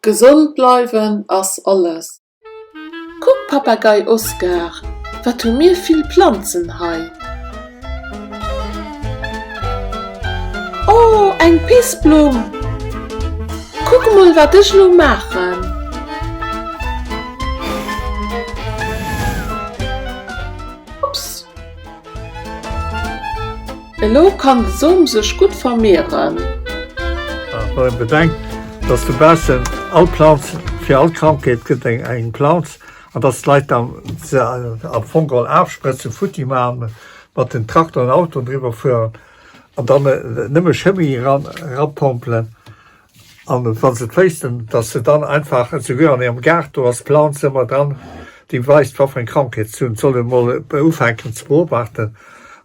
Gesond bleiwen ass alles! Kuck Papagei Oskar, wat hu mir vill Planzen hei! Oh eng Pissblumm! Kuck emol wat ech elo maachen! Ups! Elo kann de Som sech gutt vermehren. Wann een bedenkt, dass de baussen all Planz, fir all Krankheet gëtt eng eng Planz, an dass d'Leit dann se am Fong geholl afsprëtzen, futti maachen, mat den Traktoren an Autoen driwwer fueren an dann nëmme Chëmie eran erapompelen, An wann se et wéissten, dass se dann einfach, esouguer an hirem Gaart, do ass d'Planz ëmmer dran, déi weist, wat fir eng Krankheet se hunn, soll ee mol ufänken ze beobachten.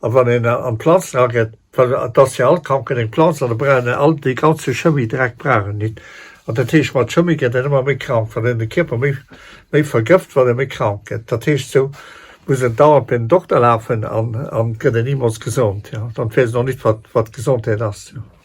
A wann een an d'Planzen ageet, well et ass fir all Krankheet eng Planz, an da brauchen déi all dee ganze Chemiedreck brauchen nit. An dat heescht, mat Chemie gëtt een ëmmer méi krank, well een de Kierper méi méi vergëft, well e méi krank gëtt. Dat heescht, esou muss en dauernd bei den Dokter lafen an gëtt en nimols gesond. Dann weess en och nit, wat wat Gesondheet ass.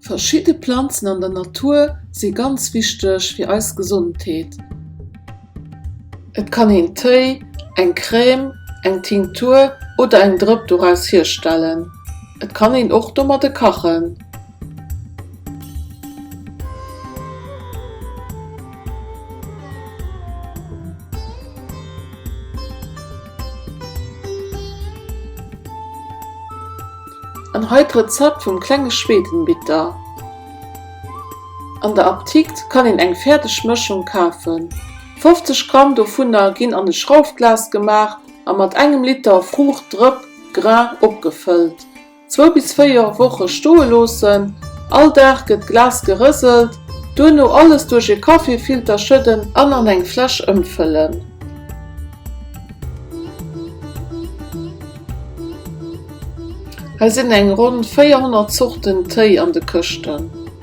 Verschidde Planzen an der Natur si ganz wichteg fir eis Gesondheet. Et kann een Téi, eng Crème, eng Tinktur oder eng Drëpp doraus hierstellen. Et kann een och domadde kachen. An hei d'Rezept vum klenge Schwedenbitter. An der Aptikt kann een eng fäerdeg Mëschung kafen. 50 Gramm dovunner ginn an e Schraufglas gemaach a mat engem Liter Fruucht-Drëpp, Grain, opgefëllt. Zwou bis véier Woche stoe loossen, all Dag gëtt d'Glas gerëselt, duerno alles duerch e Kaffeefilter schëdden an an eng Fläsch ëmfëllen. Hei sinn eng ronn 400 Zorten Téi an de Këschten.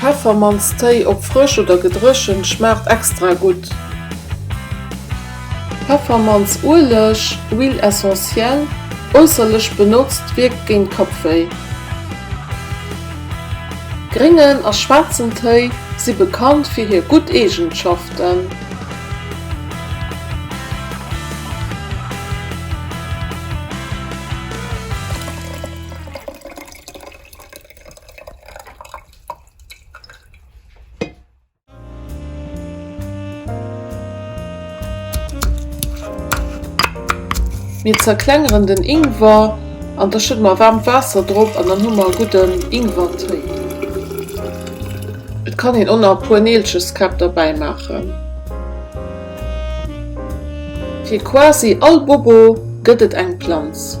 Peffermannstéi op frësch oder gedréchent schmaacht extra gutt. Peffermanns Ueleg, huile essentielle, äusserlech benotzt, wierkt géint Kappwéi. Gréngen a schwaarzen Téi si bekannt fir hir gutt Eegenschaften. Mir zerklengeren den Ingwer an da schëdde mer waarmt Waasser drop an dann hu mer e gudden Ingwertéi. Et kann een och nach e puer Neelcheskäpp derbäi maachen. Fir quasi all Bobo gëtt et eng Planz.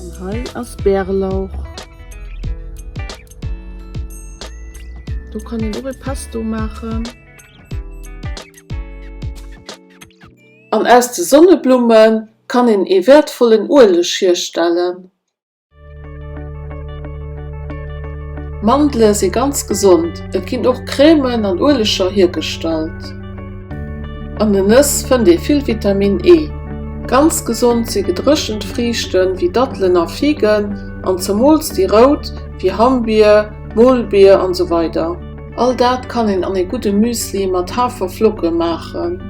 An hei ass Bärlauch. Do kann een och ee Pesto maachen. An aus de Sonneblumme kann een ee wäertvollen Ueleg hierstellen. Mandele si ganz gesond. Et ginn och Crèmen an Ueleger hiergestallt. An den Nëss fënnt ee vill Vitamin E. Ganz gesond si gedréchent Friichte wéi Dattelen a Figen, an zemools déi rout, wéi Hammbier, Molbier an esou weider. All dat kann een an ee gudde Müsli mat Haferflocke maachen.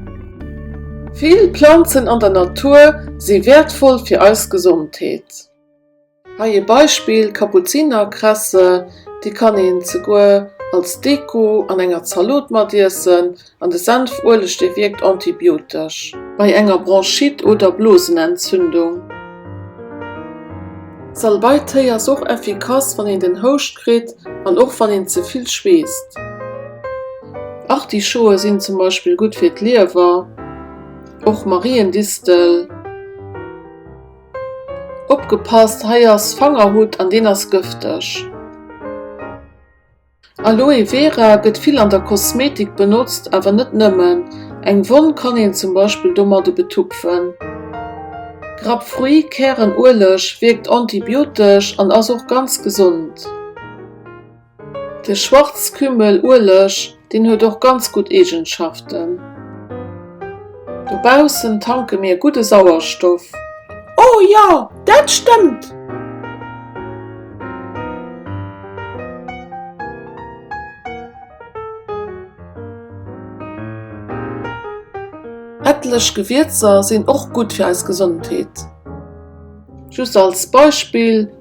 Vill Planzen an der Natur si wäertvoll fir eis Gesondheet. Hei ee Beispill, Kapuzinerkresse, déi kann een zeguer als Deko an enger Zalot mat iessen, an de Senf-Ueleg, dee wierkt antibiotesch. Bei enger Bronchite oder Blosenentzündung. Salbei-Téi ass och effikass wann een den Houscht kritt an och wann een ze vill schweesst. Artischoe sinn zum Beispill gutt fir d'Liewer, och Mariendistel. Opgepasst, hei ass Fangerhutt an deen ass gëfteg. Aloe Vera gëtt vill an der Kosmetik benotzt, awer net nëmmen. Eng Wonn kann een zum Beispill domadde betupfen. Grapefruit-Kärenueleg wierkt antibiotesch an ass och ganz gesond. De Schwarzkümmel-Ueleg, deen huet och ganz gutt Eegenschaften. Dobaussen tanke mir gudde Sauerstoff. Oh jo, dat stëmmt! Etlech Gewierzer sinn och gutt fir eis Gesondheet. Just als Beispill.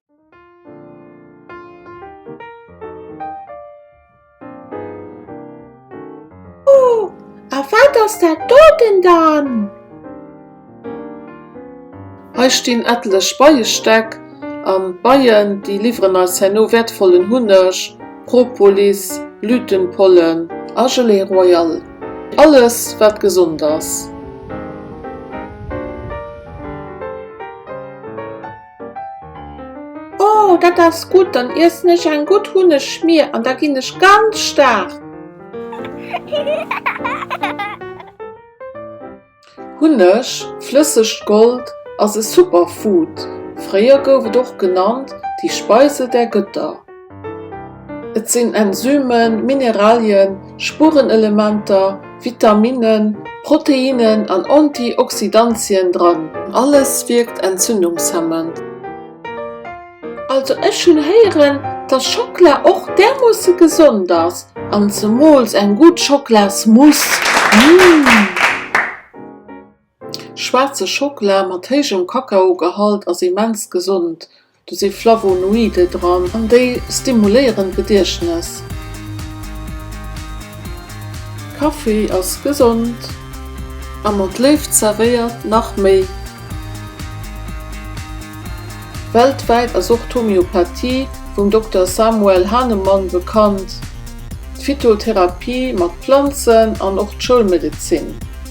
Oh, a wat ass dat doten dann? Hei stinn ettlech Beiestäck an d'Beien déi liwweren eis herno wäertvollen Hunneg, Propolis, Blütenpollen a Gelée Royale, alles wat gesond ass. Oh, dat ass gutt, dann iessen ech eng gutt Hunnegschmier an da ginn ech ganz staark. Hunneg, flëssegt Gold, ass e Superfood. Fréier gouf et och genannt, die Speise der Götter. Et sinn Enzymen, Mineralien, Spurenelementer, Vitaminnen, Proteinnen an Antioxidantien dran. Alles wierkt entzündungshemmend. Also ech hunn héieren dass Schockla och därmoosse gesond ass an zemools eng gutt Schockla's Mousse. Mmm. Schwaarze Schockela mat héijem Kakaogehalt ass immens gesond, do si Flavonoide dran an déi stimuléieren d'Gediechtnes. Kaffi ass gesond a mat Léift zerwéiert nach méi. Weltwäit ass och d'Homeopathie vum Dokter Samuel Hahnemann bekannt, d'Phytotherapie mat Planzen an och d'Schoulmedezin.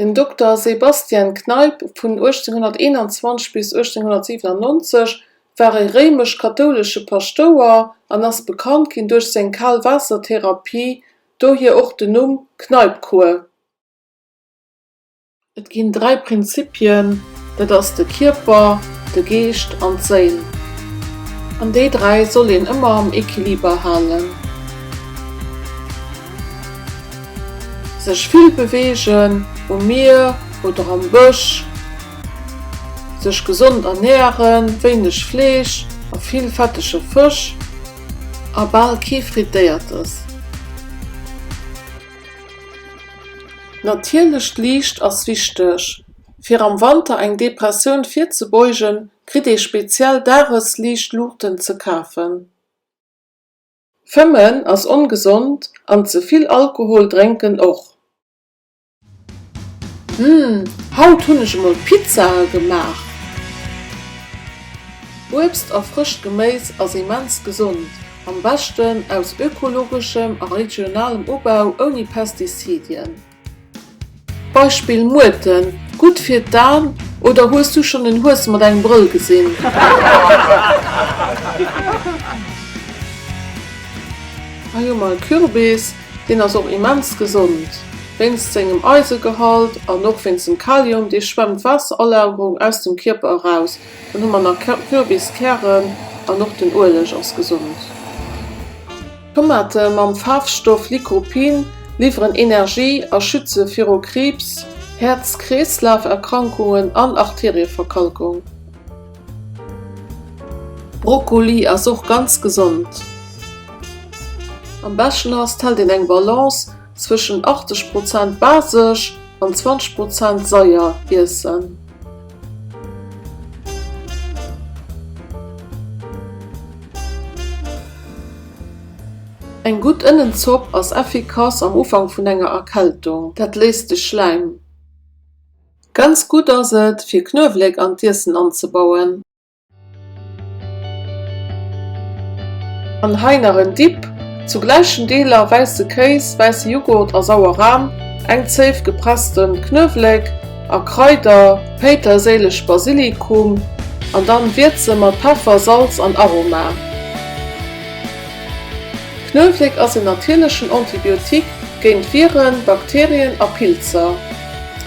Den Dokter Sebastian Kneipp, vun 1821 bis 1897, war e réimesch-kathoulesche Paschtouer an ass bekannt ginn duerch seng Kal-Waasser-Therapie, dohier och den Numm Kneipp-Kur. Et ginn dräi Prinzipien, dat ass de Kierper, de Geescht an d'Séil, an déi dräi soll een ëmmer am Equiliber halen. Sech vill beweegen, um Mier oder am Bësch, sech gesond ernären, wéineg Fleesch a vill fettege Fësch a bal kee Frittéiertes. Natierlecht Liicht ass wichteg. Fir am Wanter eng Depressioun virzebeugen, kritt ee speziell Dagesliichtluuchten ze kafen. Fëmmen ass ongesond an ze vill Alkohol drénken och. Hm, haut hunn ech emol Pizzae gemaach. Uebst a frëscht Geméis ass immens gesond, am beschten aus ökologeschem a regionalem Ubau ouni Pestizidien. Beispill Muerten, gutt fir d'An oder hues du schonn en Hues mat engem Brëll gesinn? Hei hu mer e Kürbis, deen ass och immens gesond wéinst sengem Eisegehalt an och wéinst dem Kalium, dee schwemmt d'Waasseralagerung aus dem Kierper eraus. Dann hu mer nach Kürbiskären an och den Ueleg ass gesond. Tomate mam Faarfstoff Lycopene liwweren Energie a schütze viru Kriibs, Häerz-Kreeslaf-Erkrankungen an Arterieverkalkung. Brokkoli ass och ganz gesond. Am beschten ass, t hält een eng Balance Zwëschen 80 Prozent basesch an 20 Prozent seier iessen. Eng gutt Ënnenzopp ass effikass am Ufank vun enger Erkältung, dat léist de Schläim. Ganz gutt ass et fir Knuewléck an d'Iessen anzebauen. An hei nach en Dip, zu gläichen Deeler wäisse Kéis, wäisse Jughurt a sauer Ram, eng Zéif gepressten Knuewléck a Kraider, Péiterséilech, Basilikum, an dann wierze mat Peffer, Salz an Aroma. Knuewléck ass en natierlechen Antibiotique géint Viren, Bakterien a Pilzer.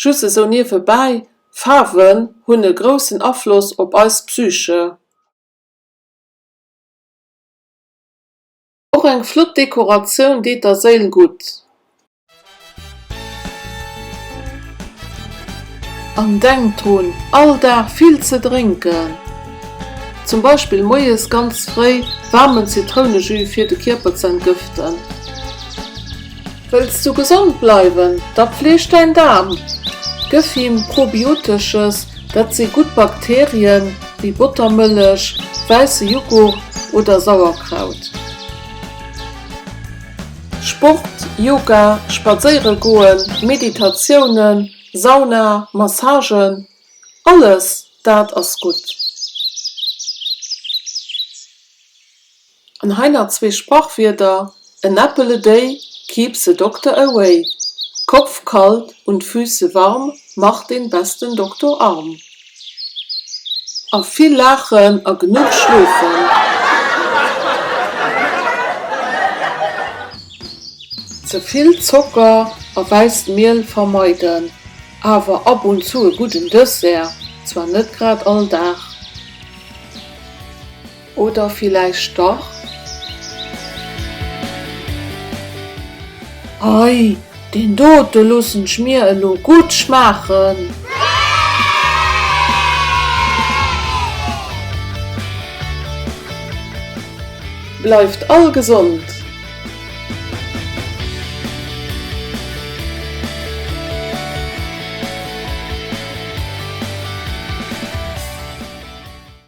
Just esou niewebäi, Faarwen hunn e groussen Afloss op eis Psyche. Och eng flott Dekoratioun deet der Séil gutt. An denkt drun, all Dag vill ze drénken. Zum Beispill moies ganz fréi waarmen Zitrounejus fir de Kierper ze entgëften. Wëlls du gesond bleiwen? Da fleeg däin Daarm! Gëff him Probiotesches, dat si gutt Bakterien, wéi Bottermëllech, wäisse Jughurt oder Sauerkraut. Sport, Yoga, Spadséiere goen, Meditatiounen, Sauna, Massagen, alles dat ass gutt. An hei nach zwee Sprachwierder, An apple a day keeps the doctor away, Kopf kalt und Füße warm macht den besten Doktor arm. A vill laachen a genuch schlofen. Ze vill Zocker a wäisst Miel vermeiden, awer ab und zu e gudden Dessert, zwar net grad all Dag. Oder villäicht dach? Hei, deen dote loossen ech mir elo gutt schmaachen! Bleift all gesond!